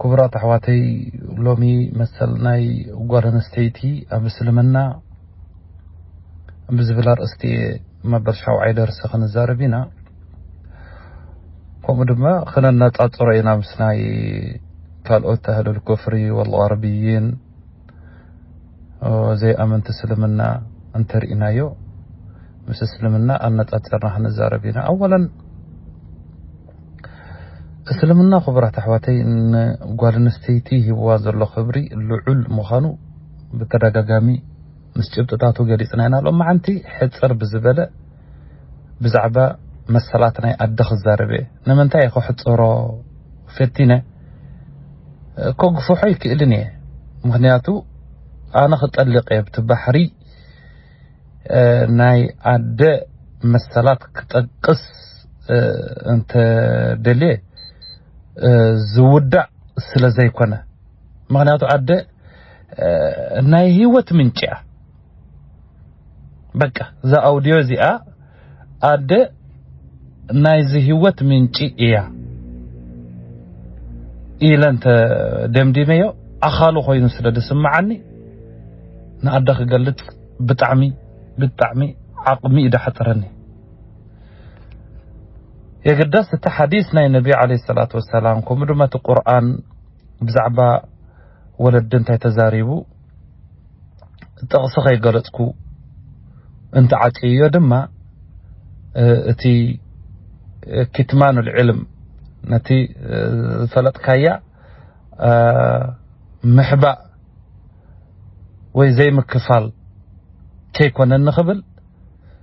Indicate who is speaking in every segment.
Speaker 1: ክቡራት ኣሕዋተይ ሎሚ መሰል ናይ ጓል ኣንስተይቲ ኣብ እስልምና ብዝብል ኣርእስቲ እየ መበል ሻውዓይ ደርሲ ክንዛረብ ኢና ከምኡ ድማ ክነነፃፅሮ ኢና ምስ ናይ ካልኦት ኣህልል ኩፍሪ ወልغርብይን ዘይኣመንቲ እስልምና እንተርኢናዮ ምስ እስልምና ኣነፃፀርና ክንዛረብ ኢና ኣወለን እስልምና ክቡራት ኣሕዋተይ ንጓል ኣንስተይቲ ሂብዋ ዘሎ ክብሪ ልዑል ምዃኑ ብተደጋጋሚ ምስ ጭብጥታቱ ገሊፅና ኢና። ሎማዓንቲ ሕፅር ብዝበለ ብዛዕባ መሰላት ናይ ኣደ ክዛረብ እየ። ንምንታይ እየ ከሕፅሮ ፈቲነ ከግፍሖ ይክእልን እየ ምክንያቱ ኣነ ክጠልቅ እየ ብቲ ባሕሪ ናይ ኣደ መሰላት ክጠቅስ እንተ ደልየ ዝውዳእ ስለ ዘይኮነ ምክንያቱ ኣደ ናይ ህይወት ምንጭ እያ በቃ እዛ ኣውድዮ እዚኣ ኣደ ናይዚ ህይወት ምንጪ እያ ኢለ እንተ ደምዲመዮ ኣኻሉ ኮይኑ ስለ ዝስምዓኒ ንኣደ ክገልጽ ብጣዕሚ ብጣዕሚ ዓቕሚ እዩ ዝሓጽረኒ። የግዳስ እቲ ሓዲስ ናይ ነቢ ዓለይሂ ሰላቱ ወሰላም ከምኡ ድማ እቲ ቁርኣን ብዛዕባ ወለዲ እንታይ ተዛሪቡ ጥቕሲ ከይገለጽኩ እንተዓጽየዮ ድማ እቲ ኪትማን ልዕልም ነቲ ዝፈለጥካያ ምሕባእ ወይ ዘይምክፋል ከይኮነ ንኽብል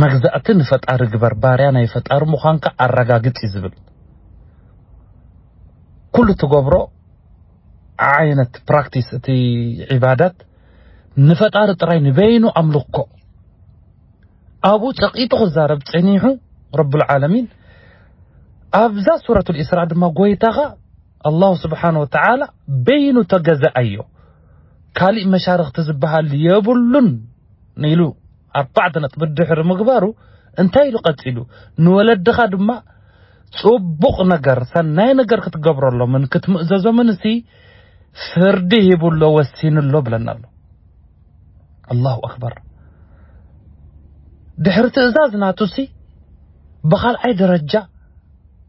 Speaker 1: መግዛእቲ ንፈጣሪ ግበር ባርያ ናይ ፈጣሪ ምዃንካ ኣረጋግጽ እዩ ዝብል ኩሉ ትገብሮ ዓይነት ፕራክቲስ እቲ ዒባዳት ንፈጣሪ ጥራይ ንበይኑ ኣምልኮ ኣብኡ ጸቂጡ ክዛረብ ጸኒሑ ረብል ዓለሚን ኣብዛ ሱረቱል ኢስራ ድማ ጎይታኻ ኣላሁ ስብሓን ወተዓላ በይኑ ተገዛኣይዮ ካሊእ መሻርኽቲ ዝበሃል የብሉን ኢሉ ኣርባዕተ ነጥቢ ድሕሪ ምግባሩ እንታይ ኢሉ ቀጺሉ ንወለድኻ ድማ ጽቡቕ ነገር ሰናይ ነገር ክትገብረሎምን ክትምእዘዞምን እሲ ፍርዲ ሂቡሎ ወሲኑሎ ብለና ኣሎ ኣላሁ ኣክበር ድሕሪ ትእዛዝ ናቱሲ ብኻልኣይ ደረጃ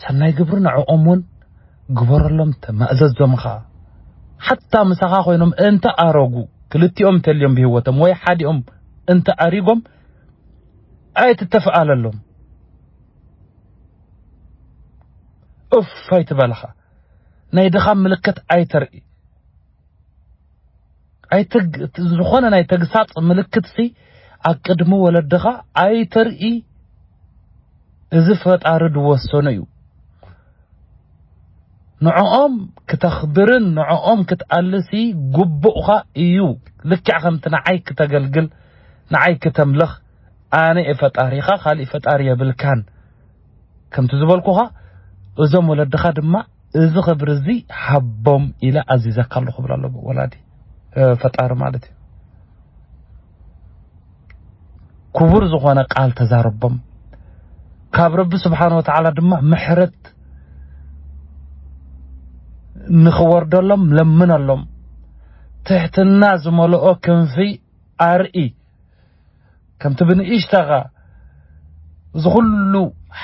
Speaker 1: ሰናይ ግብሪ ንዕኦም እውን ግበረሎም ተማእዘዞም ኸዓ ሓታ ምሳኻ ኮይኖም እንተ ኣረጉ ክልቲኦም እንተልዮም ብህይወቶም ወይ ሓዲኦም እንተ ኣሪጎም ኣይትተፍኣለሎም እፍ ኣይትበልኻ ናይ ድኻም ምልክት ኣይተርኢ ዝኾነ ናይ ተግሳጽ ምልክትሲ ኣብ ቅድሚ ወለድኻ ኣይተርኢ እዚ ፈጣሪ ዝወሰኖ እዩ ንዕኦም ክተኽብርን ንዕኦም ክትኣልሲ ግቡእኻ እዩ ልክዕ ከምቲ ንዓይ ክተገልግል ንዓይ ክተምልኽ ኣነ እየ ፈጣሪኻ ካልእ ፈጣሪ የብልካን ከምቲ ዝበልኩኻ እዞም ወለድኻ ድማ እዚ ክብሪ እዚ ሃቦም ኢለ ኣዚዘካ ኣለኹ ክብል ኣሎ ወላዲ ፈጣሪ ማለት እዩ ክቡር ዝኾነ ቃል ተዛረቦም ካብ ረቢ ስብሓን ወተዓላ ድማ ምሕረት ንኽወርደሎም ለምነሎም ትሕትና ዝመልኦ ክንፊ ኣርኢ ከምቲ ብንእሽታኻ እዚ ኩሉ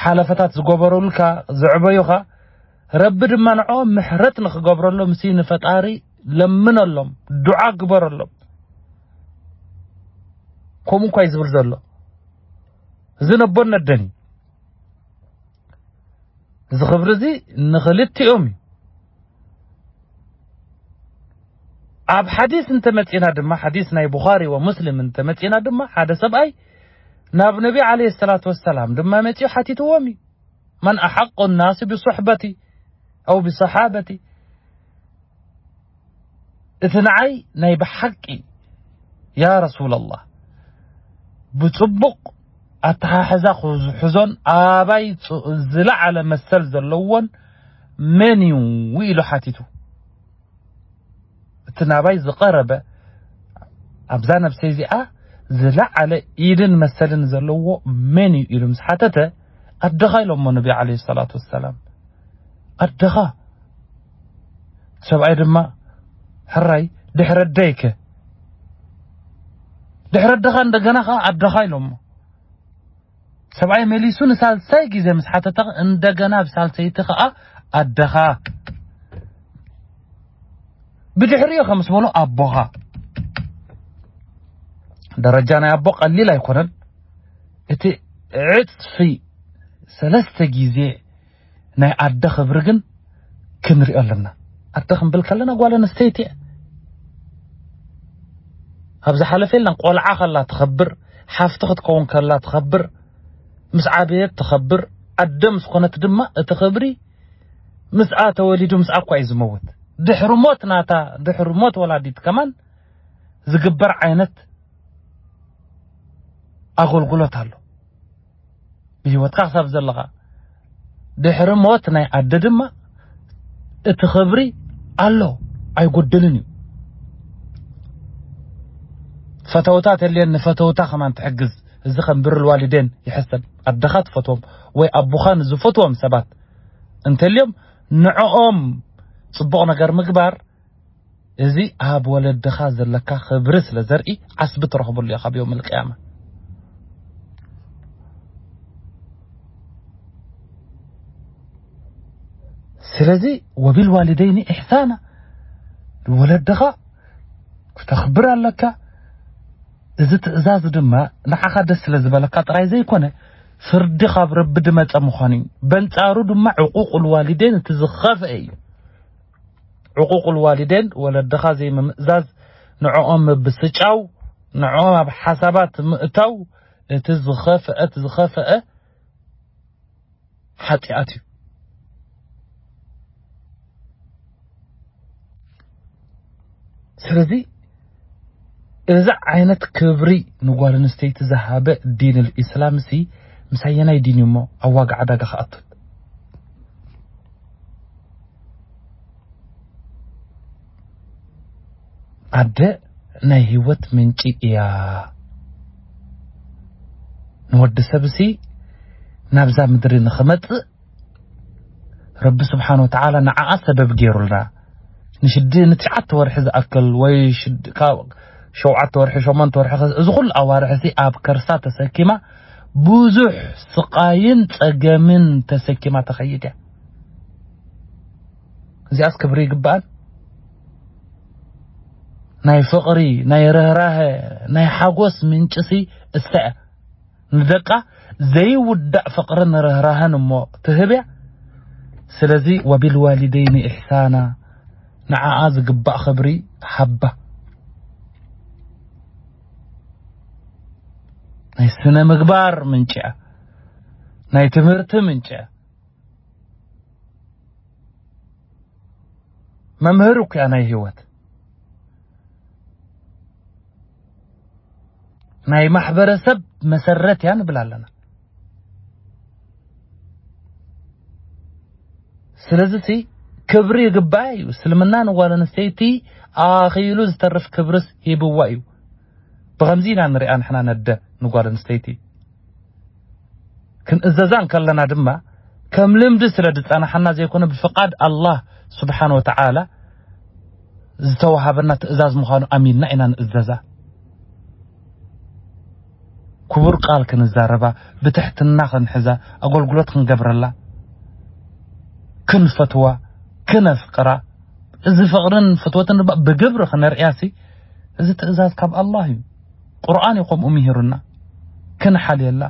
Speaker 1: ሓለፈታት ዝገበሩልካ ዘዕበዩኻ ረቢ ድማ ንዕኦም ምሕረት ንኽገብረሎም ሲ ንፈጣሪ ለምነሎም ዱዓ ግበረሎም ከምኡ እንኳ እዩ ዝብል ዘሎ እዚ ነቦነደን እዩ እዚ ክብሪ እዚ ንኽልቲኦም እዩ። ኣብ ሓዲስ እንተመጺና ድማ ሓዲስ ናይ ቡኻሪ ወሙስሊም እንተመጺና ድማ ሓደ ሰብኣይ ናብ ነቢ ዓለይሂ ሰላቱ ወሰላም ድማ መጺኡ ሓቲትዎም እዩ መን ኣሓቁ ናሲ ብሱሕበቲ ኣው ብሰሓበቲ እቲ ንዓይ ናይ ብሓቂ ያ ረሱለላህ ብጽቡቕ ኣተሓሕዛ ክሕዞን ኣባይ ዝለዓለ መሰል ዘለዎን መን እዩ ኢሉ ሓቲቱ እቲ ናባይ ዝቐረበ ኣብዛ ነብሰይ እዚኣ ዝለዓለ ኢድን መሰልን ዘለዎ መን እዩ ኢሉ ምስ ሓተተ ኣደኻ ኢሎሞ ነቢ ዓለይሂ ሰላቱ ወሰላም ኣደኻ እቲ ሰብኣይ ድማ ሕራይ ድሕሪ ኣደይ ከ ድሕሪ ኣደኻ እንደገና ከ ኣደኻ ኢሎሞ ሰብኣይ መሊሱ ንሳልሳይ ግዜ ምስ ሓተተ እንደገና ብ ሳልሰይቲ ከኣ ኣደኻ ብድሕሪኡ ከ ምስ በሎ ኣቦኻ ደረጃ ናይ ኣቦ ቀሊል ኣይኮነን እቲ ዕጽፊ ሰለስተ ግዜ ናይ ኣደ ክብሪ ግን ክንሪኦ ኣለና። ኣደ ክንብል ከለና ጓል ኣንስተይቲ እያ። ኣብ ዝሓለፈ የለን ቆልዓ ከላ ትኸብር፣ ሓፍቲ ክትከውን ከላ ትኸብር፣ ምስ ዓበየት ትኸብር፣ ኣደ ምስ ኮነት ድማ እቲ ክብሪ ምስኣ ተወሊዱ ምስኣ እኳ እዩ ዝመውት። ድሕሪ ሞት ናታ ድሕሪ ሞት ወላዲት ከማን ዝግበር ዓይነት ኣገልግሎት ኣሎ ብህይወትካ ክሳብ ዘለኻ ድሕሪ ሞት ናይ ኣደ ድማ እቲ ክብሪ ኣሎ ኣይጎድልን እዩ ፈተውታ ተልየን ንፈተውታ ከማን ትሕግዝ እዚ ከም ብርል ዋሊደን ይሕሰብ ኣደኻ ትፈትዎም ወይ ኣቦኻ ንዝፈትዎም ሰባት እንተልዮም ንዕኦም ፅቡቕ ነገር ምግባር እዚ ኣብ ወለድኻ ዘለካ ክብሪ ስለ ዘርኢ ዓስቢ ትረኽበሉ ኢኻ ኣብ ዮምል ቅያማ። ስለዚ ወቢልዋሊደይኒ ኢሕሳና ንወለድኻ ክተኽብር ኣለካ። እዚ ትእዛዝ ድማ ንዓኻ ደስ ስለ ዝበለካ ጥራይ ዘይኮነ ፍርዲ ካብ ረቢ ድመጸ ምዃኑ እዩ። በንጻሩ ድማ ዕቁቁል ዋሊደይን እቲ ዝኸፍአ እዩ። ዕቑቑል ዋሊዴን ወለድኻ ዘይምምእዛዝ፣ ንዕኦም ምብስጫው፣ ንዕኦም ኣብ ሓሳባት ምእታው እቲ ዝኸፍአት ዝኸፈአ ሓጢኣት እዩ። ስለዚ እዚ ዓይነት ክብሪ ንጓል ኣንስተይቲ ዝሃበ ዲንል ኢስላምሲ ምስ ኣየናይ ዲን እዩ እሞ ኣብ ዋጋ ዕዳጋ ክኣቱ? ኣደ ናይ ህይወት ምንጪ እያ። ንወዲ ሰብሲ ናብዛ ምድሪ ንኽመጽእ ረቢ ስብሓን ወተዓላ ንዓኣ ሰበብ ገይሩልና ንሽድ ንትሽዓተ ወርሒ ዝኣክል ወይ ሸውዓተ ወርሒ ሸሞንተ ወርሒ እዚ ኩሉ ኣዋርሒ እዚ ኣብ ከርሳ ተሰኪማ ብዙሕ ስቃይን ጸገምን ተሰኪማ ተኸይድ እያ እዚኣስ ክብሪ ይግባኣን ናይ ፍቕሪ ናይ ርህራሀ ናይ ሓጎስ ምንጭሲ እሳ እያ ንደቃ ዘይውዳእ ፍቅርን ርህራሀን እሞ ትህብ እያ ስለዚ ወቢልዋሊደይኒ ኢሕሳና ንዓኣ ዝግባእ ክብሪ ሃባ። ናይ ስነ ምግባር ምንጪ እያ ናይ ትምህርቲ ምንጪ እያ መምህር እኮ እያ ናይ ህይወት ናይ ማሕበረሰብ መሰረት እያ ንብል ኣለና ስለዚ ሲ ክብሪ ይግባኣ እዩ እስልምና ንጓል ኣንስተይቲ ኣኺሉ ዝተርፍ ክብርስ ሂብዋ እዩ ብኸምዚ ኢና ንሪኣ ንሕና ነደ ንጓል ኣንስተይቲ ክንእዘዛ እንከለና ድማ ከም ልምዲ ስለ ዝጸናሓና ዘይኮነ ብፍቓድ ኣላህ ሱብሓነሁ ወተዓላ ዝተዋሃበና ትእዛዝ ምዃኑ ኣሚንና ኢና ንእዘዛ። ክቡር ቃል ክንዛረባ፣ ብትሕትና ክንሕዛ፣ ኣገልግሎት ክንገብረላ፣ ክንፈትዋ፣ ክነፍቅራ፣ እዚ ፍቕርን ፍትወትን ድማ ብግብሪ ክነርእያሲ እዚ ትእዛዝ ካብ ኣላህ እዩ። ቁርኣን እዩ ከምኡ ሚሂሩና ክንሓልየላ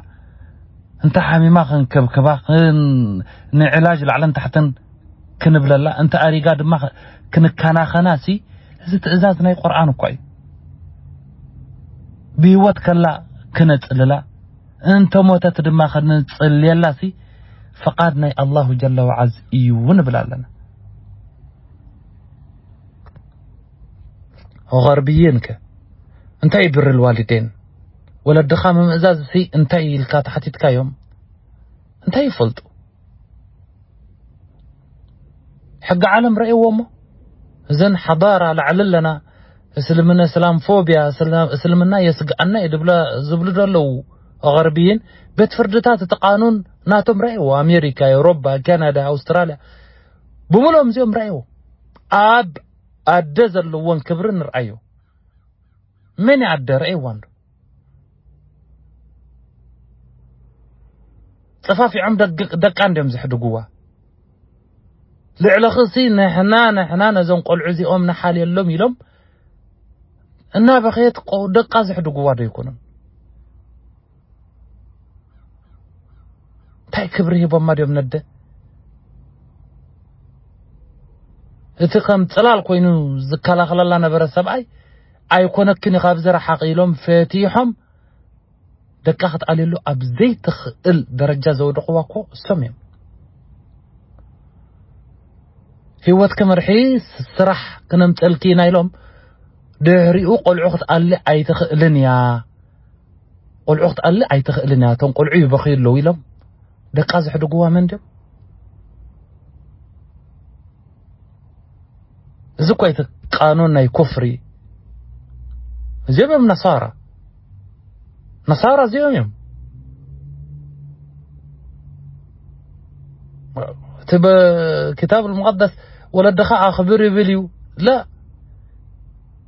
Speaker 1: እንተ ሓሚማ ክንክብክባ ንዕላጅ ላዕልን ታሕትን ክንብለላ እንተ ኣሪጋ ድማ ክንከናኸና ሲ እዚ ትእዛዝ ናይ ቁርኣን እኳ እዩ ብህይወት ከላ ክነጽልላ እንተ ሞተት ድማ ክንጽልየላ ሲ ፍቃድ ናይ ኣላሁ ጀለ ወዓዝ እዩ ንብል ኣለና ሆኸር ብይን ከ እንታይ እዩ ብሪ ልዋሊዴን ወለድኻ ምምእዛዝ ሲ እንታይ እዩ ኢልካ ተሓቲትካዮም እንታይ ይፈልጡ ሕጊ ዓለም ረእዎ እሞ እዘን ሓዳራ ላዕሊ ኣለና እስልምና እስላም ፎቢያ እስልምና የስግኣና እዩ ድብላ ዝብሉ ዘለዉ ኣቐርብይን ቤት ፍርድታት እቲ ቃኑን ናቶም ረእዎ ኣሜሪካ ኤውሮፓ ካናዳ ኣውስትራልያ ብምሎም እዚኦም ረእዎ ኣብ ኣደ ዘለወን ክብሪ ንርኣዮ መን እያ ኣደ ረእይዋ እንዶ ጸፋፊዖም ደቃ እንዲዮም ዘሕድግዋ ልዕለኽሲ ንሕና ንሕና ነዞም ቆልዑ እዚኦም ንሓልየሎም ኢሎም እናበኸየት ደቃ ዘሕድግዋ ዶ ኣይኮኑን እንታይ ክብሪ ሂቦማ ድዮም ነደ እቲ ከም ጽላል ኮይኑ ዝከላኸለላ ነበረ ሰብኣይ ኣይኮነክን ኢኻ ኣብዚ ረሓቂ ኢሎም ፈቲሖም ደቃ ክትኣልየሉ ኣብ ዘይትኽእል ደረጃ ዘውደቕዋ እኮ እሶም እዮም ህይወት ክምርሒ ስራሕ ክነምፀልኪ ኢና ኢሎም ድሕሪኡ ቆልዑ ክትኣሊ ኣይትኽእልን እያ ቆልዑ ክትኣሊ ኣይትኽእልን እያ እቶም ቆልዑ ይበኽዩ ኣለዉ ኢሎም ደቃ ዘሕድጉዋ መን ድዮም እዚ እኮ እቲ ቃኑን ናይ ኩፍሪ እዚኦም እዮም ነሳራ ነሳራ እዚኦም እዮም እቲ ብክታብ ሙቀደስ ወለድኻ ኣኽብር ይብል እዩ ላ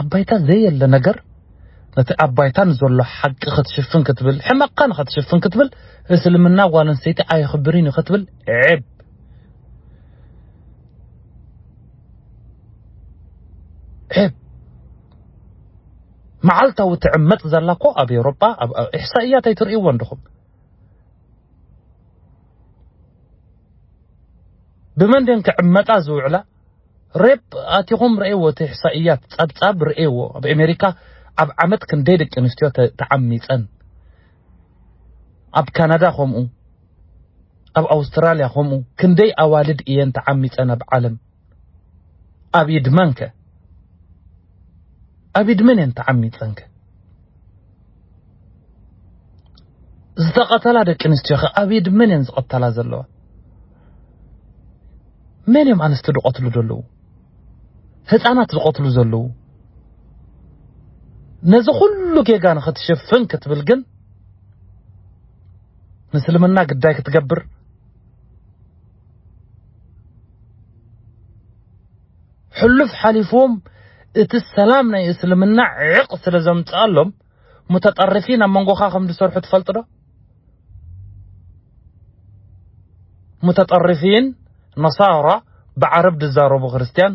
Speaker 1: ኣብ ባይታ ዘየለ ነገር ነቲ ኣብ ባይታ ንዘሎ ሓቂ ክትሽፍን ክትብል ሕመቕካ ንኸትሽፍን ክትብል እስልምና ጓል ኣንስተይቲ ኣየኽብርን እዩ ክትብል ዕብ ዕብ መዓልታዊ ትዕመፅ ዘላ እኮ ኣብ ኤውሮጳ ኣብ ኢሕሳእያት ኣይትርእይዎ እንድኹም ብመን ድን ክዕመጣ ዝውዕላ ሬፕ ኣቲኹም ረኤዎ እቲ ሕሳኢያት ጸብጻብ ረኤዎ ኣብ ኤሜሪካ ኣብ ዓመት ክንደይ ደቂ ኣንስትዮ ተዓሚጸን ኣብ ካናዳ ከምኡ ኣብ ኣውስትራልያ ከምኡ ክንደይ ኣዋልድ እየን ተዓሚጸን ኣብ ዓለም ኣብ ኢድ መንከ ኣብ ኢድ መን እየን ተዓሚጸንከ ዝተቐተላ ደቂ ኣንስትዮ ከ ኣብ ኢድ መን እየን ዝቐተላ ዘለዋ? መን እዮም ኣንስቲ ዝቐትሉ ዘለዉ? ህፃናት ዝቐትሉ ዘለዉ? ነዚ ኩሉ ጌጋ ንኽትሽፍን ክትብል ግን ምስልምና ግዳይ ክትገብር ሕሉፍ ሓሊፍዎም እቲ ሰላም ናይ እስልምና ዕቕ ስለ ዘምጽኣሎም ሙተጠርፊን ኣብ መንጎኻ ከም ዝሰርሑ ትፈልጥ ዶ? ሙተጠርፊን ነሳራ ብዓረብ ዝዛረቡ ክርስትያን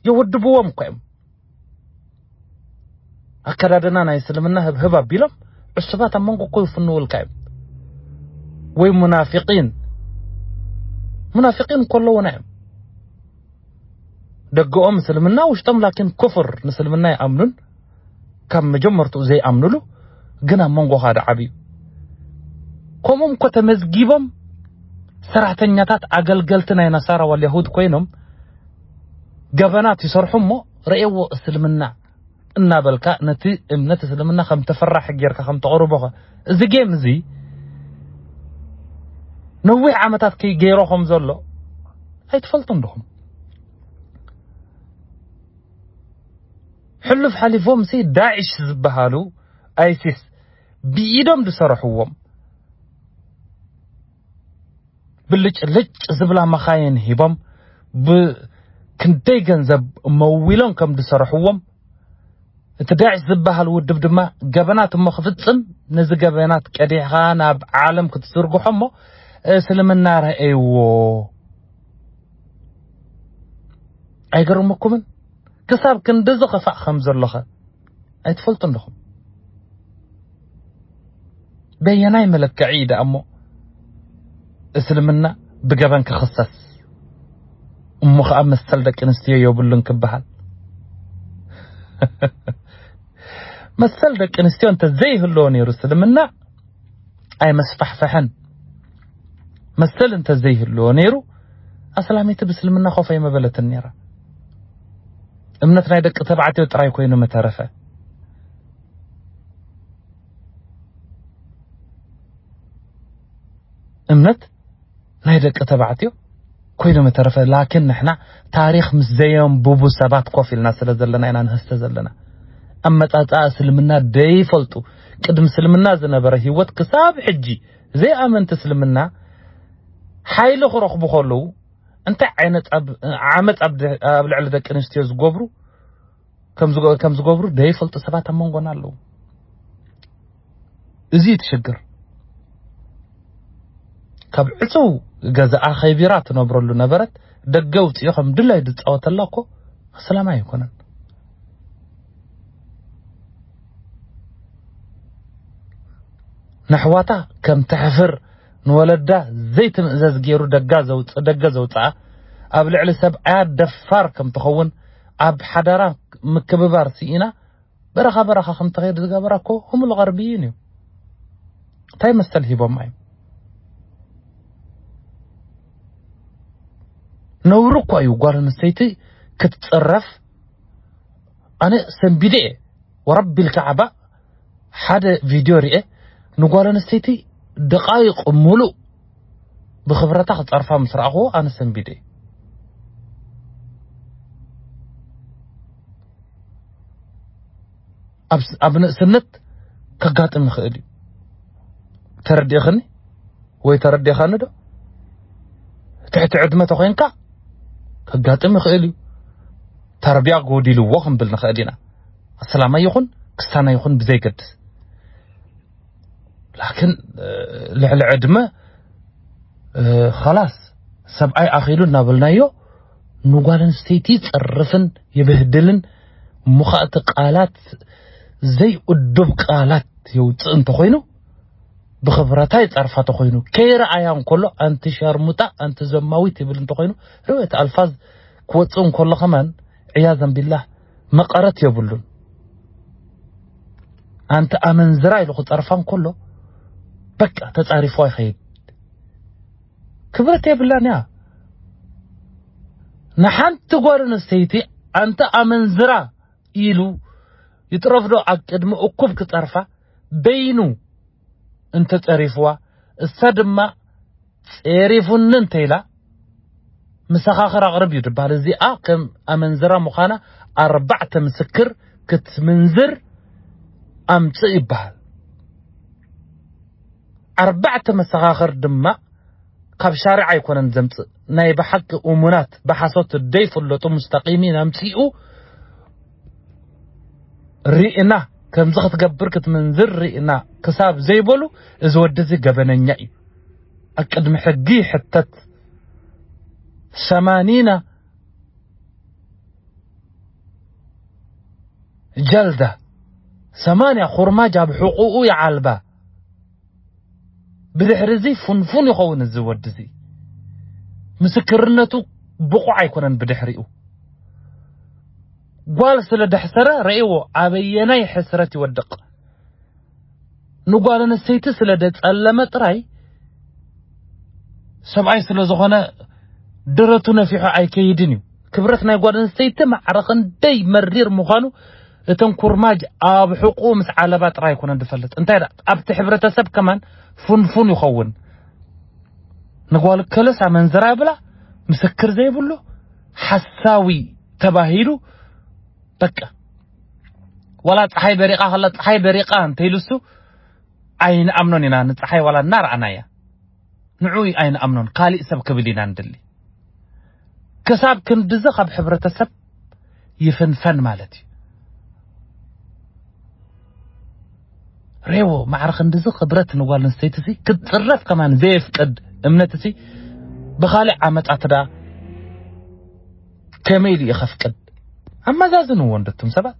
Speaker 1: የወድብዎም እኮ እዮም። ኣከዳድና ናይ እስልምና ህብህብ ኣቢሎም ዕሱባት ኣብ መንጎ እኮ ይፍንውልካ እዮም ወይ ሙናፊቂን ሙናፊቂን እኮ ኣለውና እዮም ደገኦም እስልምና ውሽጦም ላኪን ኩፍር ንእስልምና ይኣምኑን ካብ መጀመርትኡ ዘይኣምኑሉ ግን ኣብ መንጎኻ ድዓብ እዩ ከምኡም እኮ ተመዝጊቦም ሰራሕተኛታት ኣገልገልቲ ናይ ነሳራ ዋል የሁድ ኮይኖም ገበናት ይሰርሑ እሞ ረኤዎ እስልምና እናበልካ ነቲ እምነት እስልምና ከም ተፈራሒ ጌርካ ከም ተቕርቦኸ እዚ ጌም እዚ ነዊሕ ዓመታት ከይ ገይሮ ከም ዘሎ ኣይትፈልጡን ዶኹም ሕሉፍ ሓሊፎም ሲ ዳዕሽ ዝበሃሉ ኣይሲስ ብኢዶም ዝሰረሕዎም ብልጭ ልጭ ዝብላ መኻይን ሂቦም ብ ክንደይ ገንዘብ መዊሎም ከም ዝሰርሕዎም እቲ ዳዕሽ ዝብሃል ውድብ ድማ ገበናት እሞ ክፍጽም ነዚ ገበናት ቀዲሕኻ ናብ ዓለም ክትዝርግሖ እሞ እስልምና ረኣይዎ ኣይገርመኩምን ክሳብ ክንድዚ ክፋእ ከም ዘሎኸ ኣይትፈልጡን ዲኹም? በየናይ መለክዒ እዩ ደኣ እሞ እስልምና ብገበን ክኽሰስ እሞ ከዓ መሰል ደቂ ኣንስትዮ የብሉን ክበሃል መሰል ደቂ ኣንስትዮ እንተዘይህልዎ ነይሩ እስልምና ኣይመስፋሕፈሐን መሰል እንተዘይህልዎ ነይሩ ኣስላሚቲ ብእስልምና ኮፍ ኣይመበለትን ነይራ እምነት ናይ ደቂ ተባዕትዮ ጥራይ ኮይኑ ምተረፈ። እምነት ናይ ደቂ ተባዕትዮ ኮይኑ ምተረፈ ላኪን ንሕና ታሪኽ ምስ ዘየንብቡ ሰባት ኮፍ ኢልና ስለ ዘለና ኢና ንህስተ ዘለና። ኣመጻጽኣ እስልምና ደይፈልጡ ቅድሚ እስልምና ዝነበረ ህይወት ክሳብ ሕጂ ዘይኣመንቲ እስልምና ሓይሊ ክረኽቡ ከለዉ እንታይ ዓይነት ዓመፅ ኣብ ልዕሊ ደቂ ኣንስትዮ ዝገብሩ ከም ዝገብሩ ደይፈልጡ ሰባት ኣብ መንጎና ኣለዉ እዚ እዩ ትሽግር ካብ ዕፅው ገዛኣ ከይቢራ ትነብረሉ ነበረት ደገ ውፅኢ ከም ድላይ ዝፃወተላ እኮ ሰላም ኣይኮነን ነሕዋታ ከም ተሕፍር ንወለዳ ዘይትምእዘዝ ጌሩ ደጋ ዘውጽእ ደገ ዘውጽኣ ኣብ ልዕሊ ሰብኣያ ደፋር ከም ትኸውን ኣብ ሓዳራ ምክብባር ስኢና በረኻ በረኻ ከም ትኸይድ ዝገበራ እኮ ህሙል ቐርብይን እዩ እንታይ መሰል ሂቦማ እዩ ነውሪ እኳ እዩ ጓል ኣንስተይቲ ክትጽረፍ ኣነ ሰንቢደ እየ ወረቢ ልካዕባ ሓደ ቪድዮ ርኤ ንጓል ኣንስተይቲ ደቓይቕ ሙሉእ ብኽብረታ ክጸርፋ ምስ ረኣኽዎ ኣነ ሰንቢደ ኣብ ንእስነት ከጋጥም ይኽእል እዩ ተረዲእኽኒ ወይ ተረዲእኻኒ ዶ ትሕቲ ዕድመ ተኾይንካ ከጋጥም ይኽእል እዩ ተርቢያ ጎዲልዎ ክንብል ንኽእል ኢና ኣስላማይ ይኹን ክስታናይ ይኹን ብዘይገድስ ላኪን ልዕሊ ዕድመ ኸላስ ሰብኣይ ኣኺሉ እናበልናዮ ንጓል ኣንስተይቲ ይጸርፍን ይብህድልን እሞ ኸኣ እቲ ቃላት ዘይእዱብ ቃላት የውፅእ እንተኾይኑ ብኽብረታ ይጻርፋ ተኾይኑ ከይረኣያ እንከሎ ኣንቲ ሸርሙጣ ኣንቲ ዘማዊት ይብል እንተኾይኑ ርዌት ኣልፋዝ ክወፅእ እንከሎ ኸማን ዕያዘን ቢላህ መቐረት የብሉን። ኣንቲ ኣመንዝራ ኢሉ ክጸርፋ እንከሎ በቃ ተጻሪፎ ይኸይድ። ክብረት የብላን እያ ንሓንቲ ጓል ኣንስተይቲ ኣንቲ ኣመንዝራ ኢሉ ይጥረፍዶ ኣብ ቅድሚ እኩብ ክጸርፋ በይኑ እንተ ጸሪፍዋ እሳ ድማ ጼሪፉኒ እንተ ኢላ ምሰኻኽር ኣቕርብ እዩ ድበሃል እዚኣ ከም ኣመንዝራ ምዃና ኣርባዕተ ምስክር ክትምንዝር ኣምጽእ ይበሃል ኣርባዕተ መሰኻኽር ድማ ካብ ሻርዕ ኣይኮነን ዘምጽእ ናይ ብሓቂ እሙናት ብሓሶት ደይፍለጡ ሙስተቂሚን ኣምጺኡ ሪእና ከምዚ ክትገብር ክትምንዝር ሪእና ክሳብ ዘይበሉ እዚ ወዲ እዚ ገበነኛ እዩ ኣብ ቅድሚ ሕጊ ይሕተት ሰማኒና ጀልዳ ሰማንያ ኩርማጅ ኣብ ሕቁኡ ይዓልባ ብድሕሪ እዚ ፉንፉን ይኸውን እዚ ወዲ እዚ ምስክርነቱ ብቑዕ ኣይኮነን ብድሕሪኡ ጓል ስለ ደሕሰረ ረእዎ ኣበየናይ ሕስረት ይወድቕ ንጓል ኣንስተይቲ ስለ ደጸለመ ጥራይ ሰብኣይ ስለ ዝኾነ ደረቱ ነፊሑ ኣይከይድን እዩ ክብረት ናይ ጓል ኣንስተይቲ ማዕረ ክንደይ መሪር ምዃኑ እተን ኩርማጅ ኣብ ሕቁኡ ምስ ዓለባ ጥራይ ኣይኮነን ዝፈልጥ እንታይ ደኣ ኣብቲ ሕብረተሰብ ከማን ፉንፉን ይኸውን ንጓል ከለስ ኣመንዝራ ይብላ ምስክር ዘይብሉ ሓሳዊ ተባሂሉ በቃ ዋላ ፀሓይ በሪቃ ከላ ፀሓይ በሪቃ እንተይልሱ ኣይንኣምኖን ኢና ንፀሓይ ዋላ እናረኣናያ ንዕኡ እዩ ኣይንኣምኖን ካሊእ ሰብ ክብል ኢና ንድሊ ክሳብ ክንድዚ ካብ ሕብረተሰብ ይፍንፈን ማለት እዩ ሬዎ ማዕረ ክንድዚ ክብረት ንጓል ኣንስተይቲ ሲ ክትፅረፍ ከማን ዘየፍቅድ እምነት ሲ ብካሊእ ዓመፃት ዳ ከመይ ኢሉ እዩ ከፍቅድ ኣመዛዝንዎ እንድትም ሰባት